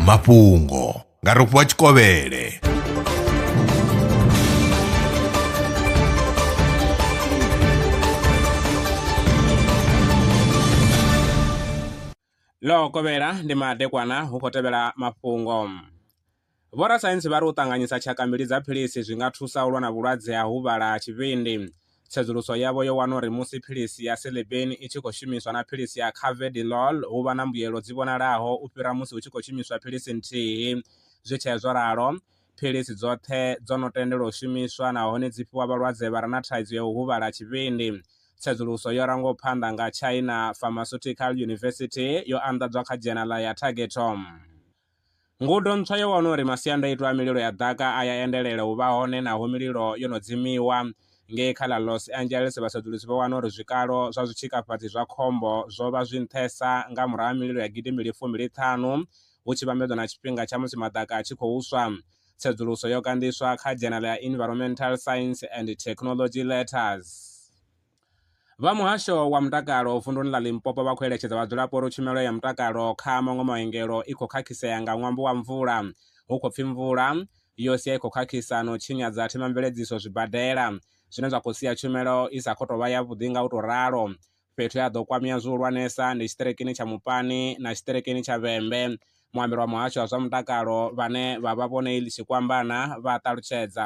mafhungo nga rofhiwa tshikovhele ḽo kovhela ndi madekwana hu khou tevhela mafhungo Vhorasaintsi vha ri u ṱanganyisa tshaka mbili dza philisi zwi nga thusa u lwa na vhulwadze ha huvhala ha tshivhindi. Tsedzuluso yavho yo wana uri musi philisi ya Celebane i tshi khou shumiswa na philisi ya Carvedilol hu vha na mbuyelo dzi vhonalaho u fhira musi hu tshi khou shumiswa philisi nthihi. Zwi tshee zwo ralo, philisi dzoṱhe dzo no tendelwa u shumiswa nahone dzi fhiwa vhalwadze vha re na thaidzo ya u huvhala ha tshivhindi. Tsedzuluso yo rangwaho phanḓa nga China Pharmaceutical University yo anḓadzwa kha dzhenala ya Targetome. Ngudo ntswa yo wana uri masiandaitwa a mililo ya ḓaka a ya endelela u vha hone naho mililo yo no dzimiwa. Ngei kha ḽa Los Angeles, vhasedzulusi vho wana uri zwikalo zwa zwitshikafhadzi zwa khombo zwo vha zwi nṱhesa nga murahu ha mililo ya gidimbili fumbiliṱhanu hu tshi vhambedzwa na tshifhinga tsha musi maḓaka a tshi khou swa. Tsedzuluso yo kanḓiswa kha dzhenala ya Environmental Science and Technology Letters. Vha muhasho wa mutakalo vunduni ḽa Limpopo vha khou eletshedza vhadzulapo uri tshumelo ya mutakalo kha maṅwe maongelo i khou khakhisea nga ṅwambo wa mvula. Hu khou pfi mvula yo sia i khou khakhisa na u tshinyadza themamveledziso zwibadela, zwine zwa khou sia tshumelo i sa khou tou vha yavhuḓi nga u tou ralo. Fhethu he ha ḓo kwamea zwihulwanesa ndi tshiṱirikini tsha Mupani na tshiṱirikini tsha Vhembe. Muambeli wa muhasho wa zwa mutakalo vhane vha vha Vho Neil Tshikwambana vha ṱalutshedza.